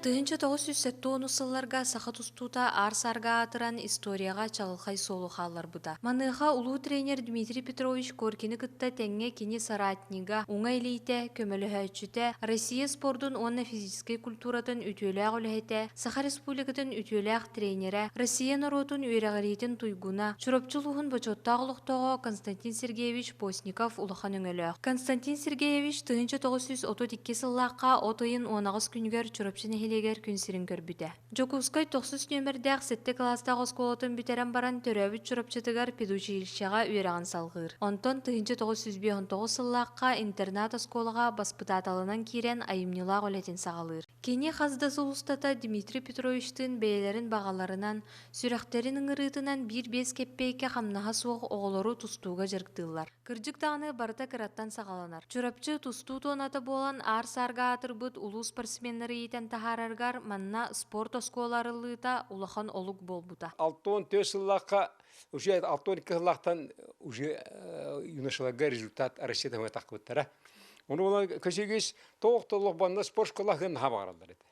Тыһынча тоғыз жүз сэттэ онус сылларга саха тустуута аар-саарга аатыран историяҕа чаҕылхай суолу хаалларбыта. Маныаха улуу тренер Дмитрий Петрович Коркины кытта тэҥҥэ кини соратнига, уҥа илиитэ, көмөлөһөөччүтэ, Россия спордун уонна физическэй культуратын үтүөлээх үлэһитэ, Саха Республикатын үтүөлээх тренерэ, Россия норуотун үөрэҕириитин туйгуна, Чурапчы улууһун бочуоттаах олохтооҕо Константин Сергеевич Постников улахан өҥөлөөх. Константин Сергеевич тыһыынча тоҕус сүүс отут икки сыллаахха от ыйын уонаҕас күнүгэр Чурапчы нэһилиэгэр күн сирин көрбүтэ. Дьокуускай тохсус нүөмэрдээх сэттэ кылаастаах оскуолатын бүтэрэн баран, төрөөбүт Чурапчытыгар педучилищеҕа үөрэҕин салҕыыр. Онтон тыһыынча тоҕус жүз биэс он тоҕус сыллаахха интернат-оскуолаҕа баспытааталынан киирэн, айымньылаах үлэтин саҕалыыр. Кини хас да сыл устата Дмитрий Петровичтыын бэйэлэрин баҕаларынан, сүрэхтэрин ыҥырыытынан биир биэс кэппиэйкэ хамнаһа суох оҕолору тустууга дьарыктыыллар. Кырдьык даҕаны барыта кыраттан саҕаланар. Чурапчы тустуу туоната буолан аар-саарга аатырбыт улуу спортсменнары иитэн таһаараргар манна спорт оскуола арыллыыта улахан олук буолбута. Алты он төрт сыллаахха уже алты он екі сыллаахтан уже юношаларга результат Россия тахпыттара. Ону болан көсүгүс тоқ толлох банна спорт школаһын наха баҕараллар еді.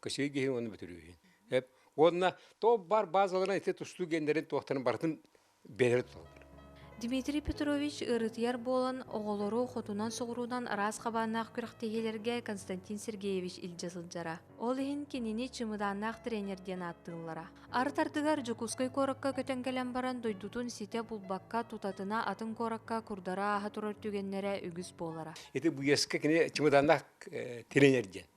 кысыы гиһи уонна бүтүрүүһүн. Эп уонна то бар базаларынан ити тустуу гендерин туохтарын барытын бэлэр тутталлар. Дмитрий Петрович ырытыйар буолан, оҕолору хотунан-соҕуруунан араас хабааннаах күрэхтэһиилэргэ Константин Сергеевич илдьэ сылдьара. Ол иһин кинини чымыдааннаах тренер диэн ааттыыллара. Артартыгар Дьокуускай куоракка көтөн кэлэн баран дойдутун ситэ булбакка тутатына атын куоракка курдары ааһа турар түгэннэрэ үгүс буолара. Ити бу кини чымыдааннаах тренер диэн.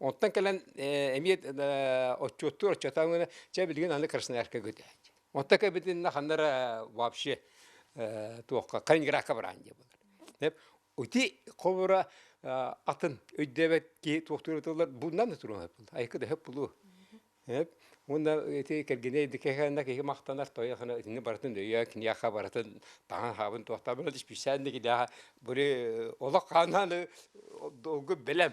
Онтон кэлэн эмиэ отчуоттуур отчуотаабыгына чэ билигин аны Красноярка көтөөт. Онтон кэбитиннэ ханна эрэ вообще туохха Калининградка бараан диэ буолар. Ити холобура атын өйдөөбөт киһи туохтуур ытыллар бууннан да турума эп булла. Айыкы да өп булуу. Уонна ити кэргэнэ идикэхэнэ киһи махтанар тойо хана итини барытын өйөө киниэхэ барытын таһан хаабын туохтаабын исписээн да килээхэ били олох хааннааны долгу бэлэм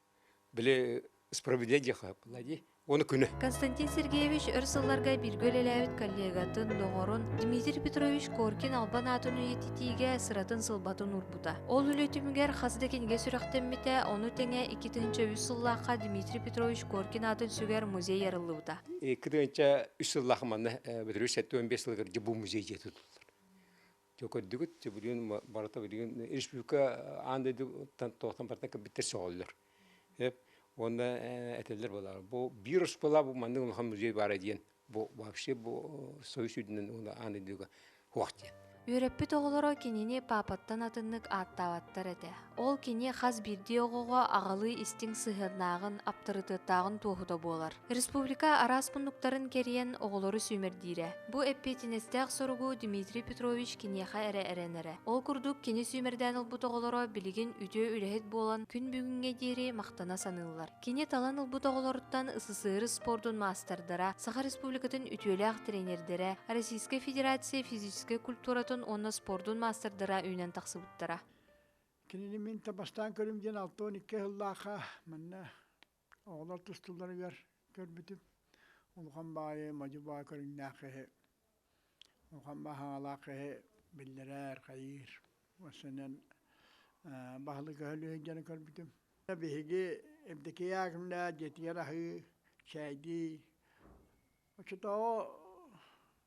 Били справедя диэхэ былади уону күнэ. Константин Сергеевич өр сылларга бииргэ үлэлээбит коллегатын, доҕорун Дмитрий Петрович Коркин албан аатын үйэтитиигэ сыратын сылбатын уурбута. Ол үлэ түмүгэр хас да кинигэ сүрэхтэммитэ, ону тэҥэ икки тыһыынча үс сыллаахха Дмитрий Петрович Коркин аатын сүгэр музей арыллыбыта. Икки тыһыынча үс сыллаах манна бүтүрүү сэттэ уон биэс сылыгар бу музей дьиэ тутуллар. Чө көрдүгүт, билигин барыта билигин республика аан дойдуттан тоhtон барытын кырбиттэр сөҕөллөр. Эп уонна этеллер болар. Бу вирус была бу маннык улахан музей баара диэн бу вообще бу союз үйдүнэн уна аан дойдуга хуах диэн. Үөрэппит оҕолоро кинини папаттан атыннык ааттаабаттар этэ. Ол кини хас биирдии оҕоҕо аҕалыы истиҥ сыһыаннааҕын, аптарытыаттааҕын туоһута буолар. Республика араас муннуктарын кэрийэн оҕолору сүүмэрдиирэ. Бу эппиэтинэстээх соругу Дмитрий Петрович киниэхэ эрэ эрэнэрэ. Ол курдук, кини сүүмэрдээн ылбыт оҕолоро билигин үтүө үлэһит буолан күн бүгүҥҥэ диэри махтана саныыллар. Кини талан ылбыт оҕолоруттан СССР спордун маастардара, Саха Республикатын үтүөлээх тренердэрэ, Российскай Федерация физическэй культуратын уонна спордун маастардара үүнэн тахсыбыттара. Кинини мин та бастаан көрүм диэн алта уон икки сыллаахха манна оҕолор тустулларыгар көрбүтүм. Улахан баайы, модьу баай көрүҥнээх киһи, улахан баай хаҥалаах киһи биллэрэр, хайыыр. Өссөнөн баһылык Өһөлү сылдьан көрбүтүм. Биһиги Евдокия Акимна дьиэтигэр аһыы, чэйдии. Оччотооҕу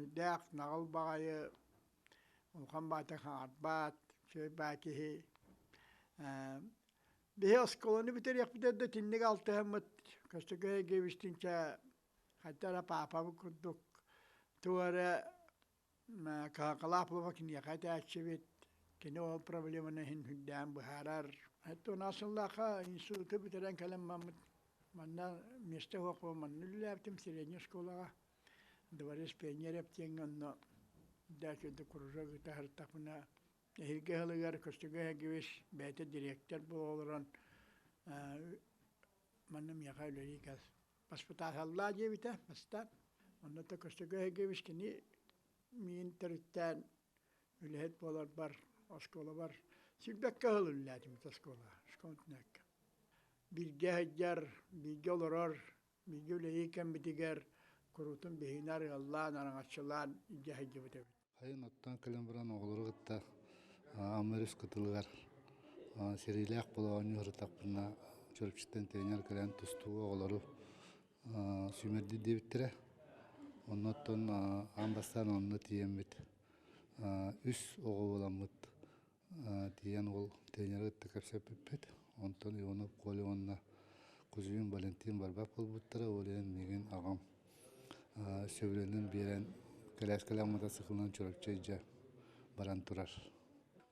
Үрдээх наҕыл баҕайы улахан баата хаҥарбаат, үчүгэйбаа киһи. биһи оскуоланы бүтэриэхпитэ да итинник алтыһаммыт Көстөкөй Агеевичтиинчэ хайта эрэ паапабыт курдук тугу эрэ кыһалҕалаах буолуо киниэхэ этээччибит, кини ол проблеманы иһин үрдээн быһаарар. Туонаас сыллаахха институту бүтэрэн кэлэн бараммыт манна миэстэ суох буолан манна үлэлээбитим средней оскуолаҕа. Дворец пионеров диэҥҥэ онно Дача де Кружок ытаһартахпына эһиги аһылыгар көстүгэ эһигибис бэйэтэ дириэктэр буола олорон манна миэхэ үлэлии кэл баспытааталлаа диэбитэ бастаан онно да көстүгэ эһигибис кини миин төрүттээн үлэһит буоларбар оскуолабар сирбэккэ ыһыллыыллаатым оскуола школтнээккэ бииргэ сылдьар бииргэ олорор Бииргэ үлэлии кэмбитигэр куруутун биһинэр ыаллаан, араҥаччылаан илдьэ сылдьыбыт эбит. Сайын оттон кэлэн баран оҕолору кытта Амма өрүс кытылыгар сэриилээх болоонньу ырытахпына Чурапчыттан тренер кэлэн тустуу оҕолору сүүмэрдиир диэбиттэрэ. Онно оттон аан бастаан онно тиийэммит үс оҕо буоламмыт тиийэн уол тренеры кытта кэпсэппиппит онтон иванов коля уонна кузьмин валентин барбат буолбуттара ол иһин миигин аҕам сөбүлэнэн биэрэн кэлээскэлээх сыкылынан чурапчы илдьэ баран турар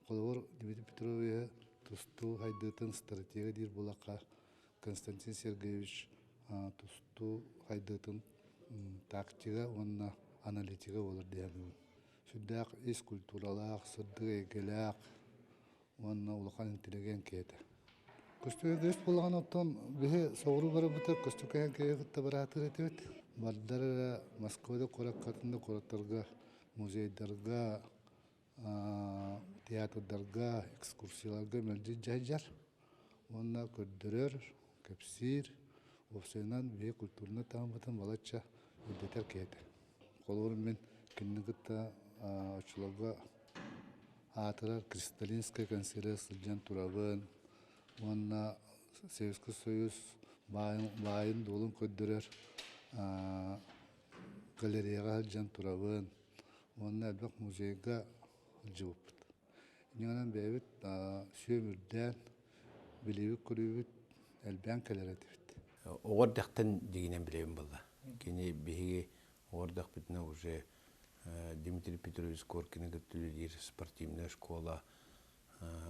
холобур дмитрий петровиһы тустуу хайдыытын стратега диир буолахха константин сергеевич тустуу хайдыытын тактига уонна аналитига буолар диэбим сүрдээх ис культуралаах, сырдык эйгэлээх уонна улахан интеллигент киһитэ. Көстөкөс буолаҕын оттон биһи соҕуруу барбыта Көстөкөйөн киһи кытта быраатыр этибит. Бардар эрэ Москвада куораккатын да куораттарга, музейдарга, театрдарга, экскурсияларга мэлдьи дьайдьар. уонна көрдөрөр, кэпсиир, уопсайынан биһиги культурнай таһыммытын балачча үрдэтэр киһи этэ. Холобуру мин кинини кытта оччолорго аатырар Кристалинская консервация сылдьан турабын уонна Советский Союз баайын-дуолун көрдөрөр галереяҕа сылдьан турабын уонна элбэх музейга сылдьыбыппыт. Иннинэн бэйэбит сүөм үрдээн, билиибит-көрүүбүт элбээн кэлэр этибит. Оҕо эрдэхтэн дигинэн билэбин буолла. Кини биһиги оҕо эрдэхпитинэ уже Дмитрий Петрович Коркины кыттыылиир спортивная школа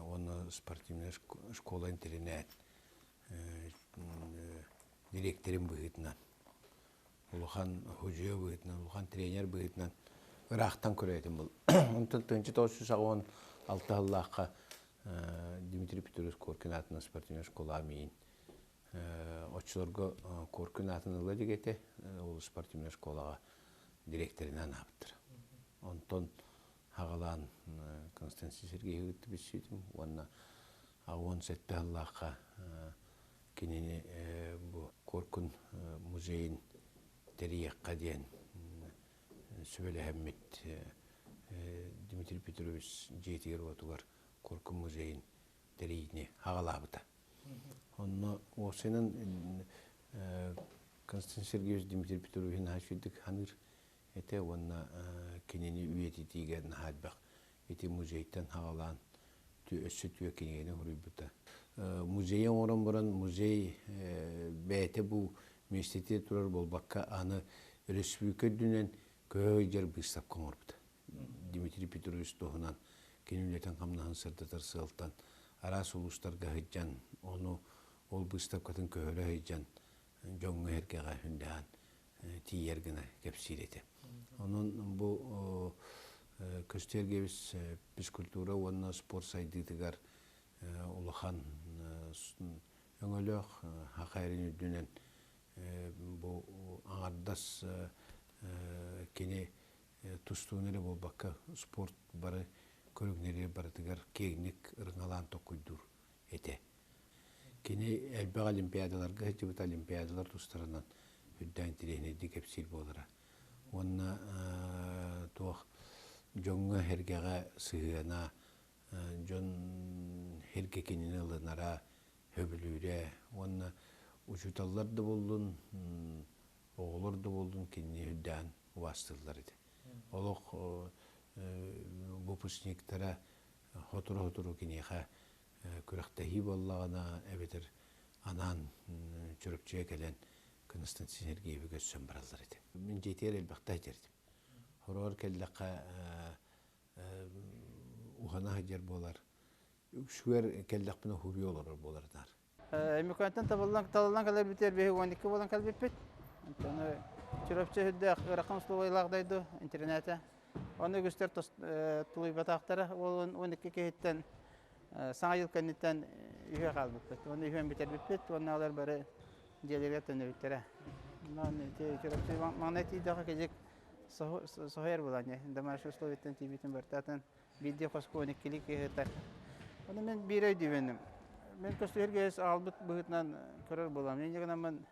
уонна спортивная школа интэринээт дириэктэрин быһыытынан улахан худьуя быһыытынан, улахан тренер быһыытынан ыраахтан көрөөтүм был. Онтон тыынчыт отус үс аҕыон алта сыллаахха Дмитрий Петрович Коркин аатынан спортивной школаҕа миин оччолорго Коркин аатын ыла илик этэ, ол спортивной школаҕа директорина анаабыттар. Онтон хаҕалаан Константин Сергеевы кытта билсиитим уонна А уон сэттэ сыллаахха кинини бу Коркун музейын тэрийиэххэ диэн сүбэлэһэммит Дмитрий Петрович дьиэтигэр-уотугар Коркун музейын тэрийини аҕалаабыта. Онно уопсайынан Константин Сергеевич Дмитрий Петрович наһаа үчүгдүк саныыр этэ уонна кинини үйэтитиигэ наһаа элбэх ити музейтан хаалаан өссө түө кинигэни хоруйбута. Музейи оҥорон баран музей бэйэтэ бу миэстэтэ турар буолбакка аны өрөспүүбүлүкэ үрдүнэн көһө ыйдьар быыстапка оҥорбута. Дмитрий Петрович туһунан кини үлэтин-хамнаһын сырдатар сыалтан араас улуустарга сыдьан, ону ол быыстапкатын көһөрө сыдьан дьоҥҥо эргэҕэ хүндэһэн тиийэр гына кэпсиир этэ. Онон бу Көстүү эргэбис физкультура уонна спорт сайдыытыгар улахан өҥөлөөх хахайрын үрдүнэн бу аҥардас кини тустууну эрэ буолбакка спорт бары көрүҥнэри барытыгар киэҥник ырыҥалаан токуйдуур этэ. Кини элбэх олимпиадаларга сылдьыбыт олимпиадалар тустарынан үрдээн тириэньэрдии кэпсиир буолара. Уонна туох дьоҥҥо, эргэҕэ сыһыана, дьон эргэ кинини ылынара, сөбүлүүрэ. Уонна учууталлар да буоллун, оҕолор да буоллун кинини үрдээн убаастыыллар ити. Олох выпускниктара сотору-сотору киниэхэ күрэхтэһии буоллаҕына эбэтэр анаан Чурапчыга кэлэн Константин Сергеевигэ өссө бараллар этэ. Мин дьиэтигэр элбэхтэ ситэрдим. Хороҕор кэллэххэ ухана сылдьар буолар. Үксүгэр кэллэхпинэ хурье олорор буолардар. Эмиконтан талыллан кэлэрбитигэр бэһи он екі болан кэлбиппит. Чурапчы үрдэ ырахан условиялаах дойду интернете Ону үгүстэр тулуйбатахтара. Ол он икки киһиттэн саҥа дьыл кэнниттэн үһүө хаалбыппыт. Ону үһүөн бүтэрбиппит уонналар бары дьиэлэригэр төннүбүттэрэ. Маҥнай тиийдэххэ кыдьык соһуйар буолан домашние условиеттан тиийбитин барытаатын биирдии хоско он иккилии киһи ытар. Ону мин биир өйдүүбүнүм. Мин көстүһэргэс аалбыт быһыытынан көрөр буолам. Инньэ гынан мин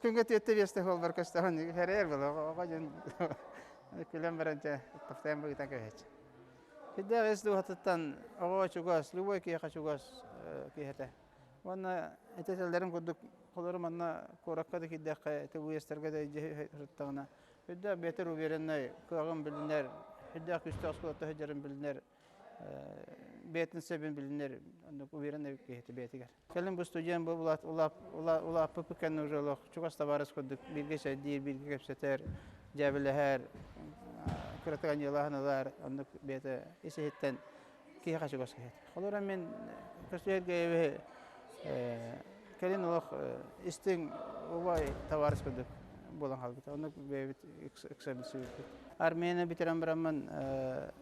Күҥҥэ түөртэ биэсте буолбар көстөҕүн эрэйэр было оҕо дьон күлэн баран дьэ тохтоон быгытан көһөч. Киддэ эс дууһатыттан оҕо чугас, любой киһиэхэ чугас киһитэ. Уонна этэтэллэрин курдук холору манна куоракка да киирдэххэ тылыйастарга да дьиэ сырыттаҕына үрдээх бэтэр увереннай кыаҕын билинэр, үрдээх күстэх оскуолата сылдьарын билинэр бэйэтин сөбүн билинэр оннук уверенный киһити бэйэтигэр кэлин бу студент бу улааппыт пыкенни уже олох чугас табаарыс курдук бииргэ сөйдиир бииргэ кэпсэтэр дьээбэлэһэр кыратык аньыалаһан ылар оннук бэйэтэ ис иһиттэн киһиэхэ чугас киһи холура мин көсүөргэйэбиһи кэлин олох истиҥ убай табаарыс курдук буолан хаалбыта оннук бэйэбит ыксабын сүүрбүт армияны бүтэрэн бараммын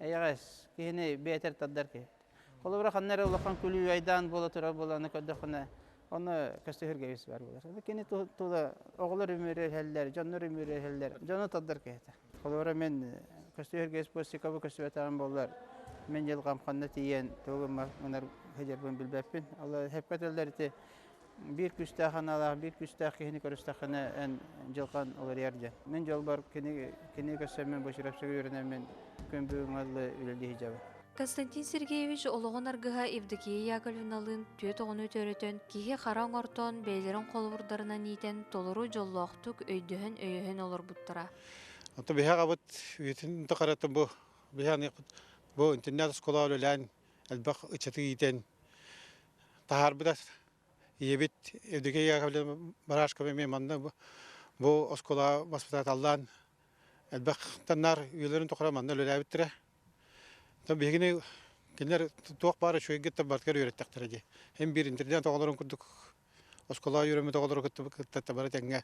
эйэҕэс киһини биэтэр тардар киһи. Холобура ханна эрэ улахан күлүү айдаан буола турар буолааны көрдөххүнэ ону көстүһүргэбис баар буолар. Кини тула оҕолор үмүрүөһэллэр, дьоннор үмүрүөһэллэр, дьону тардар киһитэ. Холобура мен көстүһүргэ спорсикабы көстүбэтэҕим буоллар мен дьылҕам ханна тиийэн тугу гынар гынарбын билбэппин. Ол эппэт ыллар ити биир күүстээх аналаах биир күүстээх киһини көрүстэххинэ эн дьылҕан уларыйар диэн мин дьолбор кини кини көссөммүн бу Чурапчыга үөрэнэммин күн бүгүҥҥэ ыллы үлэлии сылдьабын Константин Сергеевич олоҕун аргыһа Евдокия Яковлевналыын түөрт оҕону төрөтөн, киһи хара оҥортоон бэйэлэрин холобурдарынан иитэн толору дьоллоохтук өйдөһөн-өйөһөн олорбуттара. Оттон биһиэхабыт үйэтин тухарыттан бу биһиэхиппит бу интернат оскуола үлэлээн элбэх ыччаты иитэн таһаарбыта ийэбит Евдокия Яковлевна Барашкова эмиэ манна бу оскуолаҕа воспитателлаан элбэх таннаар үйэлэрин тухары манна үлэлээбиттэрэ биһигини кинилэр туох баара үчүгэйгиттэн барытыгар үөрэттэхтэрэ дии эн биир интернет оҕолорун курдук оскуола үөрэммит оҕолору кытта бары тэҥҥэ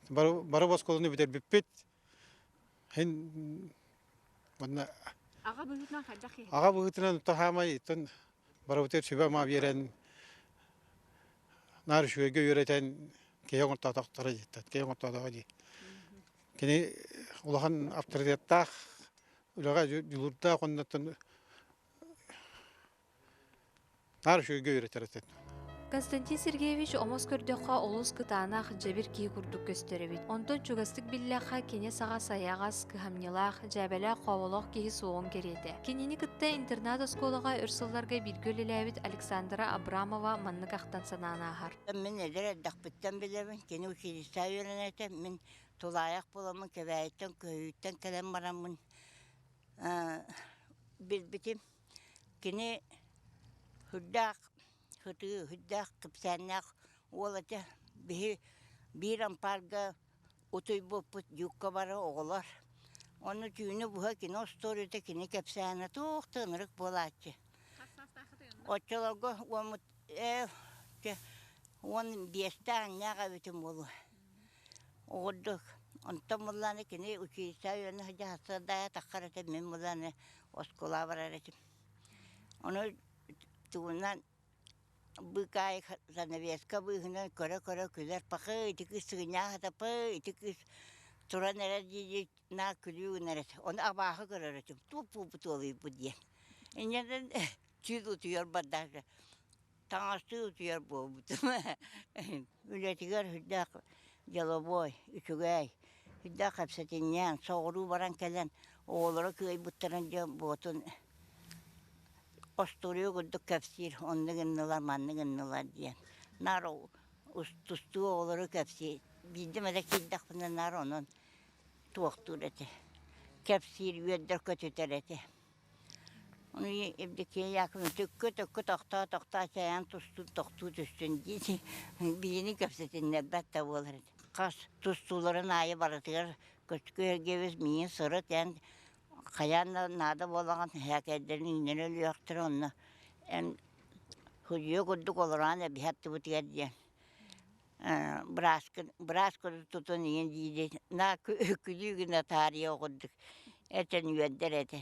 бары бары оскуоланы бүтэрбиппит Һин уонна Аҕа быһыытынан хайдах киһи? аҕа быһыытынан то хаамай итин барыбытыгар сүбэ-ама биэрэн наар үчүгэйгэ үөрэтэн киһи оҥортоотохторо диэттат киһи оҥортоотоҕо дии. Кини улахан авторитеттаах үлэҕэ дьулуурдаах уонна оттон Наар үчүгэйгэ үөрэтэритин. Константин Сергеевич омос көрдөххө олус кытаанах, дьэбир киһи курдук көстөр эбит. Онтон чугастык биллэххэ киñэс аҕас айаҕас, кыһамньылаах, дьээбэлээх хооболоох киһи суоҕун кэриэтэ. Кинини кытта интернат-оскуолаҕа өр сылларга бииргэ үлэлээбит Александра Абрамова маннык ахтан санаан ааһар. Мин эдэр эрдэхпиттэн билэбин, кини училище үөрэнэр этэ. Мин тулаайах буоламмын, Кэбээйиттэн, Көһүүттэн кэлэн бараммын билбитим. Кини сүрдээх сытыы, сүрдээх кэпсээннээх уол этэ. Биһи биир ампаарга утуйбуппут дьуукка бары оҕолор. Онно түүнү быһа кино остуоруйата кини кэпсээнэ туох да ынырык буолааччы. Оччолорго уоммут ээ чэ уон биэстээх аҥнаах эбитим буолуо Угурдук. Онтон мулланы кини училище үөнү дьаһастардаайа таххар этим мин мулланы оскуолаҕа барар этим. Ону тугунан быыкаайы занавеска быыһынан көрө-көрө күлэр пакы ити кыыс сыгынньаа сата пы ити кыыс туран эрэр диэки наа күлүү гынар этэ ону абааһы көрөр этим туу пуупутуолуйбут диэн инньэ да түүл утуйар бардаах таҥастыы утуйар буолбутум үлэтигэр сүрдээх деловой үчүгэй сүрдээх кэпсэтинньээн соҕуруу баран кэлэн оҕолоро кыайбыттарын дьэ буотун остуоруйа курдук кэпсиир онно гыннылар манны гыннылар диэн наар тустуу оҕолору кэпсиир биирдим эрэ киирдэхпинэ наар онон туохтуур этэ кэпсиир үөрдэр көтүтэр этэ Евдокия Яковлевна төккө-төккө тохтоо тохтоо чайаан тустуу тохтуу түстүн дии биһини кэпсэтиннэрбэт да буолар эт хас тустууларын аайы барытыгар көчкү эргэбиз миигин сырыт эн хайаан да наада буолаҕын эһээкэйдэрин үүннэрэ өлүөхтэрэ онно эн судьуйа курдук олороон эбиһэ аттыбытыгар диэн бырааскын быраасканы тутан ийэм диир на күлүү гына таарыйа оҕурдук этэн үөрдэр этэ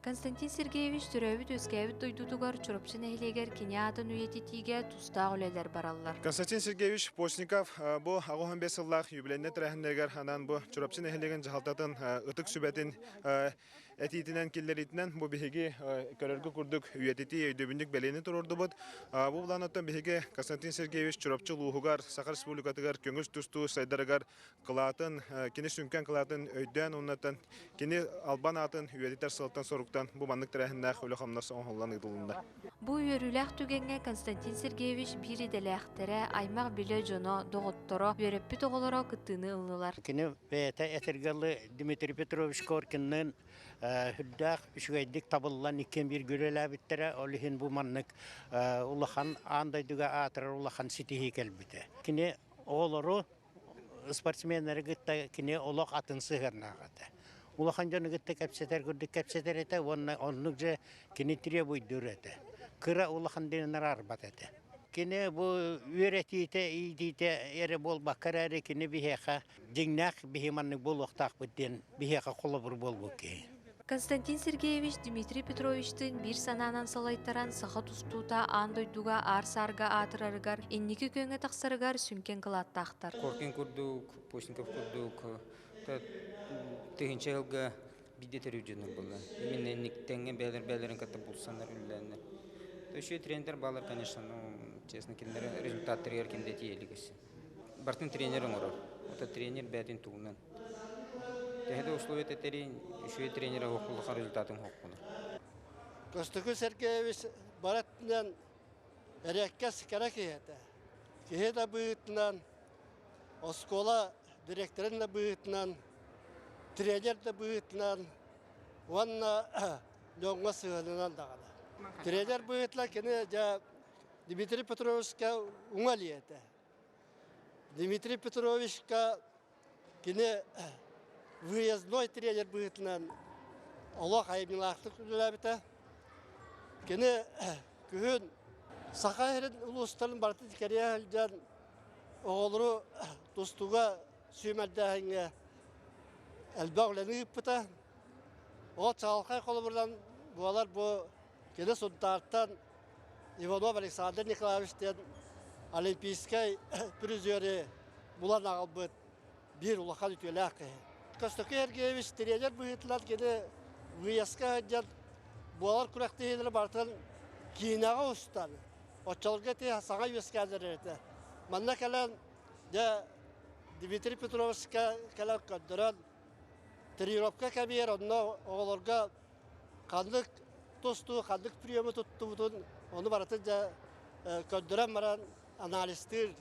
Константин Сергеевич төрөөбүт-үөскээбит дойдутугар Чурапчы нэһилиэгэр кини аатын үйэтитиигэ тустаах үлэлэр бараллар. Константин Сергеевич Постников бу аҕыс он бес сыллаах юбилейнай тэрээһиннэригэр анаан бу Чурапчы нэһилиэгин дьаһалтатын ытык сүбэтин этиитинэн киллэриитинэн бу биһиги көрөргө курдук үйэтитии өйдөбүнньүк бэлиэни туруордубут бу былаан оттон биһиги Константин Сергеевич Чурапчы улууһугар Саха Республикатыгар көҥүс тустуу сайдарыгар кылаатын кини сүҥкэн кылаатын өйдөөн уонна кини албан аатын үйэтитэр сылтан-соруктан бу маннык тэрээһиннээх үлэ-хамнас оҥоһуллан ыытылынна Бу үөрүүлээх түгэҥҥэ Константин Сергеевич биир идэлээхтэрэ, аймах-билэ дьоно, доҕотторо, үөрэппит оҕолоро кыттыыны ыллылар. Кини бэйэтэ этэргэ Дмитрий Петрович Коркинныын үрдээх үчүгэйдик табыллан иккиэн бииргэ үлэлээбиттэрэ. Ол иһин бу маннык улахан аан дойдуга аатырар улахан ситиһии кэлбитэ. Кини оҕолору спортсменнары кытта кини олох атын сыһыаннаах этэ. Улахан дьону кытта кэпсэтэр курдук кэпсэтэр этэ уонна оннук же кини требуйдуур этэ. Кыра улахан дэнэр арбат этэ. Кини бу үөрэтиитэ, иитиитэ эрэ буолбакка эрээри кини биһиэхэ дьиҥнээх биһи маннык буолуохтаахпыт диэн биһиэхэ холобур буолбут киһи. Константин Сергеевич Дмитрий Петровичтыын биир санаанан салайтаран саха тустуута аан дойдуга аар-саарга аатырарыгар, инники күөҥҥэ тахсарыгар сүҥкэн кылааттаахтар. Коркин курдук, Постников курдук тыһыынча yılга биирдэ төрүүр дьонум булан. Именно инниктеҥҥэ бэйэлэрин кытта булсаннар үллэннэр. То еще тренер балар, конечно, ну, честно, кинилэр результаттарыгар ким да тиийэ илик бартын тренер оҥорор. Ото тренер бээтин тугунан. Тэһэ да условия тэтэрин, үчүгэй тренера хоқуллаха результатын хоққуна. Кыстыкы Сергеевич баратынан эреккес кара киһэтэ. Киһи да быһытынан, оскуола директорын да быһытынан, тренер да быһытынан уонна Леоҥҥа сыһыанынан даҕаны. Тренер быһытла кини дьа Дмитрий Петровичка уҥа лиэтэ. Дмитрий Петровичка кини выездной тренер быһыытынан олох айымньылаахтык үлэлээбитэ. Кини күһүн Саха сирин улуустарын барыта кэрийэ сылдьан оҕолору тустууга сүүмэрдээһиҥҥэ элбэх үлэни ыыппыта. Ол чаҕылхай холобурунан буолар бу Кини Сунтаартан Иванов Александр Николаевич диэн олимпийскай призеры булан аҕалбыт биир улахан үтүөлээх киһи. Көстөкөй Сергеевич тренер быһыытынан кини выездка сылдьан буолар күрэхтэһиилэри барытын киинэҕэ устан, оччолорго ити саҥа үөскээннэр этэ. Манна кэлэн дьэ Дмитрий Петровичка кэлэн көрдөрөн тренировка кэмигэр онно оҕолорго ханнык тустуу, ханнык приему туттубутун ону барытын дьэ көрдөрөн баран анализтыыр,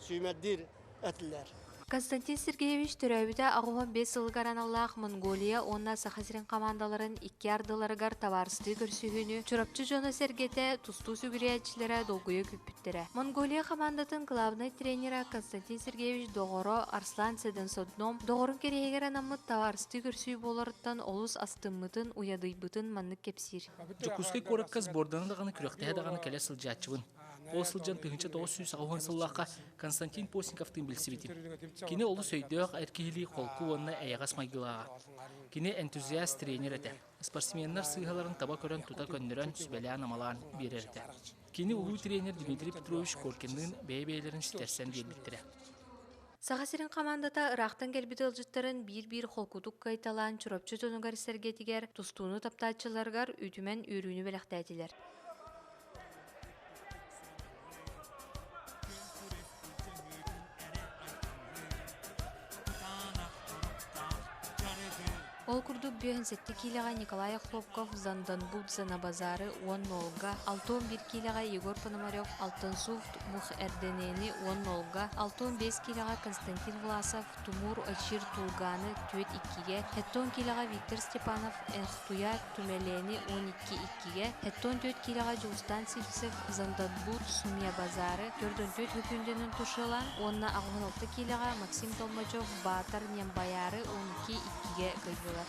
сүүмэрдиир этилэр. Константин Сергеевич төрөөбүтэ аҕыһын биэс сылыгар аналлаах Монголия уонна Саха сирин хамаандаларын икки ардыларыгар табаарыстыы көрсүһүүнү Чурапчы дьоно-сэргэтэ, тустуу сүгүрүйээччилэрэ долгуйа күүппүттэр. түмүктэрэ. Монголия хамаандатын главнай тренера Константин Сергеевич доҕоро Арслан Седенсодном доҕорун кэриэһигэр анаммыт таһаарыстыы көрсүү буоларыттан олус астыммытын, уйадыйбытын маннык кэпсиир. Дьокуускай куоракка сборданы даҕаны, күрэхтэһэ даҕаны кэлэ сылдьааччыбын. Ол сылдьан тыһыынча тоҕус сүүс аҕыс уон сыллаахха Константин Постниковтыын билсибитим. Кини олус өйдөөх, эр киһилии, холку уонна эйэҕэс майгылааҕа. Кини энтузиаст тренер этэ. Спортсменнар сыыһаларын таба көрөн тута көннөрөн, сүбэлээн-амалаан биэрэр этэ. Кини улуу тренер Дмитрий Петрович Коркинныын бэйэ-бэйэлэрин ситэрсэн биэрбиттэрэ. Саха сирин хамаандата ыраахтан кэлбит ыалдьыттарын биир-биир холкутук кыайталаан Чурапчы дьонугар-сэргэтигэр тустууну таптааччыларыгар үтүмэн үөрүүнү бэлэхтээтилэр. Ол курдук бүөһүн сэттэ киилэҕэ Николай Охлопков Занданбудзе на базары уонна Олга, алта он биир киилэҕэ Егор Пономарев Алтынсуфт мух Эрденэни уонна Олга, алта он биэс киилэҕэ Константин Власов Тумуур Очир Тулгааны түөрт иккигэ, сэттэ он киилэҕэ Виктор Степанов Энхтуя Түмэлэни уон икки иккигэ хэттон түөрт киилэҕэ Дьулустаан Сивцев Зандадбур Химиябазары төрдөн түөрт хөкүүндэнэн тушелаан уонна аҕыһын алта киилэҕэ Максим Толмачев Баатар Нембаяары уон икки иккигэ кыайдылар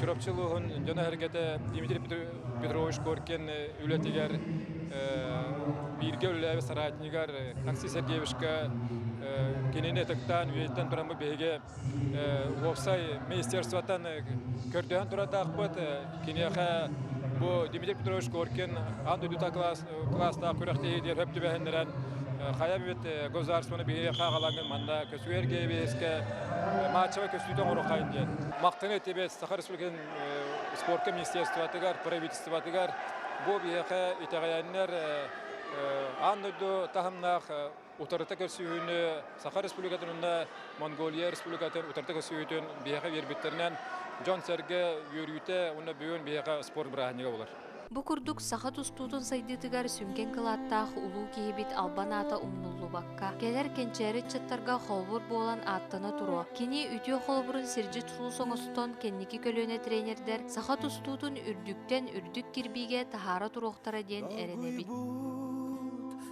Чурапчы улууһун дьоно-сэргэтэ Дмитрий Петрович Коркин үлэтигэр бииргэ үлэлээбит соратнигар Такси Сергеевичка кинини ытыктаан үйэттэн туран бу биһиги уопсай министерствотан көрдөһөн турардаахпыт киниэхэ бу Дмитрий Петрович Коркин аан дойдута класс кылаастаах күрэхтэһии диэн сөп түбэһиннэрэн хайа бит государствоны биһириэххэ аҕалаҥҥын манна көсүгээр ГБС-ке мааччаба көсүүтэ оҥороххайын диэн махтаны тибет саха республикатын спортка министерствотыгар правительствотыгар бу биһиэхэ итэҕэйэннэр аан дойду таһымнаах утарыта көрсүһүүнү Саха Республикатын уонна Монголия Республикатын утарыта көрсүһүүтүн биһиэхэ биэрбиттэринэн дьон-сэргэ үөрүүтэ уонна бүгүн биһиэхэ спорт бырааһынньыга булар. Бу курдук саха тустуутун сайдыытыгар сүҥкэн кылааттаах улуу киһибит албан аата умнуллубакка, кэлэр кэнчээри ыччаттарга холобур буолан ааттана туруо. Кини үтүө холобурун сирдьит сулус оҥостон кэнники көлүөнэ тренердэр саха тустуутун үрдүктэн үрдүк кирбиигэ таһаара туруохтара диэн эрэнэбит.